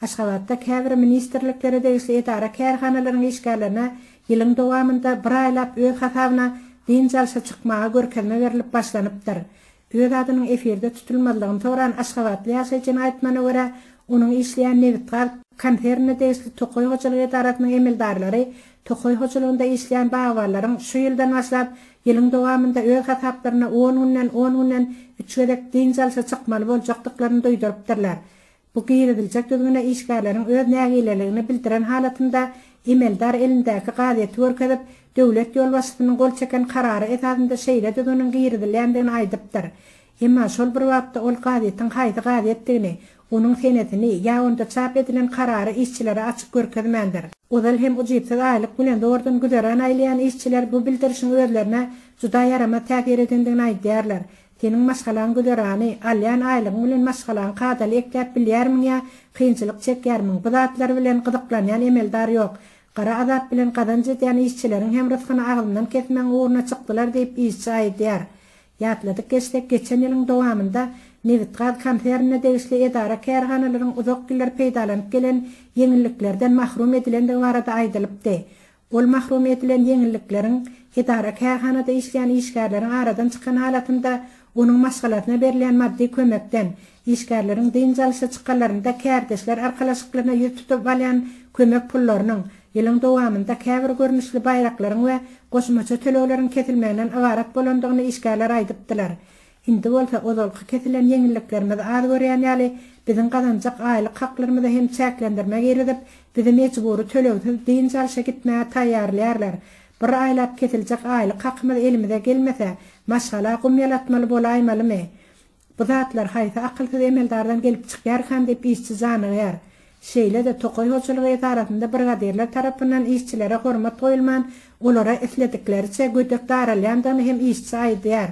Aşgabatda käbir ministrliklere degişli edara-kärhanalaryň işgärlerine ýylyň dowamynda bir aýlap öz hasabyna dynç alşa çykmaga görkezme berlip başlanypdyr. Öz adynyň efirde tutulmazlygyny soran aşgabatly ýaşaýjynyň aýtmagyna görä, onuň işleýän Nebitgaz konsernine degişli tokaý hojalyk edarasynyň emeldarlary tokaý hojalygynda işleýän bagbanlaryň şu ýyldan başlap ýylyň dowamynda öz hasaplaryna on günden on günden üç gezek dynç alşa çykmaly boljakdyklaryny duýdurypdyrlar. Bu giriziljek düzgüne işgärleriň öz nägileligini bildiren halatynda emeldar elindäki gazeti görkezip, döwlet ýolbaşçysynyň gol çeken karary esasynda şeýle düzgüniň girizilýändigini aýdypdyr. Emma şol bir wagtda ol gazetiň haýsy gazetdigini, onuň senesini ýa onda çap edilen karary işçilere açyp görkezmändir. Ozal hem ujypsyz aýlyk bilen zordan güzeran aýlaýan işçiler bu bildirişiň özlerine juda ýaramaz täsir edendigini aýdýarlar. Seniň maşgalaň güzerany, alýan aýlygyň bilen maşgalaňy kadaly ekläp bilýärmiň ýa kynçylyk çekýärmiň? Bu zatlar bilen gyzyklanýan emeldar ýok. Gara azap bilen gazanç edýän işçileriň hem rysgyny agzyndan kesmegiň ugruna çykdylar diýip, işçi aýdýar. Ýatladyp geçsek, geçen ýylyň dowamynda Nebitgaz konsernine degişli edara-kärhanalaryň uzak ýyllar peýdalanyp gelen ýeňilliklerden mahrum edilendigi barada aýdylypdy. Ol mahrum edilen ýeňillikleriň edara-kärhanada işleýän işgärleriň aradan çykan halatynda onuň maşgalasyna berilýän maddy kömekden, işgärleriň dynç alyşa çykanlarynda kärdeşler arkalaşyklaryna ýüz tutup alýan kömek pullarynyň, ýylyň dowamynda käbir görnüşli baýraklaryň we goşmaça tölegleriň kesilmeginden ybarat bolandygyny işgärler aýdypdylar. Indi bolsa ozalky kesilen ýeňilliklerimiz az görýän ýaly, biziň gazanjak aýlyk haklarymyza hem çäklendirme girizip, bizi mejbury tölegsiz dynç alşa gitmäge taýýarlaýarlar. Bir aýlap kesiljek aýlyk hakymyz elimize gelmese, maşgala gum ýalatmaly bolaýmalymy? Bu zatlar haýsy akylsyz emeldardan gelip çykýarkam diýip işçi janygýar. Şeýle-de tokaý hojalygy edarasynda brigadirler tarapyndan işçilere hormat goýulman, olara isledikleriçe gödek daralýandygyny hem işçi aýdýar.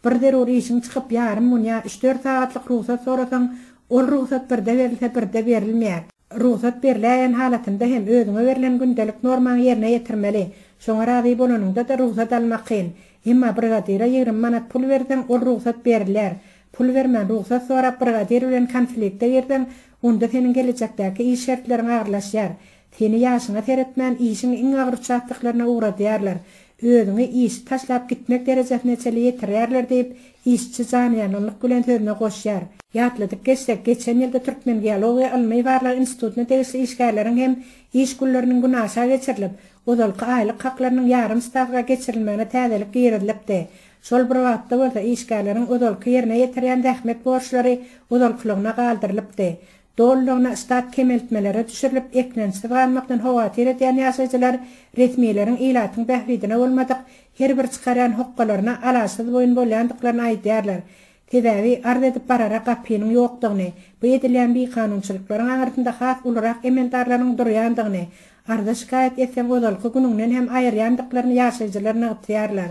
Bir zerur işiň çykyp ýarym gün ýa üç-dört sagatlyk rugsat sorasaň, ol rugsat birde berilse birde berilmeýär. Rugsat beriläýen halatynda hem özüňe berlen gündelik normaňy ýerine ýetirmeli. Şoňa razy bolanyňda-da rugsat almak kyn. Emma brigadira ýigrimi manat pul berseň, ol rugsat berilýär. Pul bermän rugsat sorap brigadir bilen konflikte girseň, onda seniň gelejekdäki iş şertleriň agyrlaşýar. Seni ýaşyňa seretmän işiň iň agyr uçastoklaryna ugradýarlar, özüňi işi taşlap gitmek derejesine çenli ýetirýärler diýip, işçi janyýanlyk bilen sözüne goşýar. Ýatladyp geçsek, geçen ýylda Türkmengeologiýa ylmy-barlag institutyna degişli işgärleriň hem iş günleriniň güni aşa geçirilip, ozalky aýlyk haklarynyň ýarym stawka geçirilmegine täzelik girizilipdi. Şol bir wagtda bolsa, işgärleriň ozalky ýerine ýetirýän zähmet borçlary ozalkylygyna galdyrylypdy. Dolulygyna ştat kemeltmelere düşürilip, eklençsiz galmakdan howatyr edýän ýaşaýjylar resmileriň ilatyň bähbidine bolmadyk her bir çykarýan hokgalaryna alaçsyz boýun bolýandyklaryny aýdýarlar. Sebäbi, arz edip barara gapynyň ýokdugyny, bu edilýän bikanunçylyklaryň aňyrsynda has ulurak emeldarlaryň durýandygyny, arza şikaýat etseň ozalky günüňden hem aýyrýandyklaryny ýaşaýjylar nygtýarlar.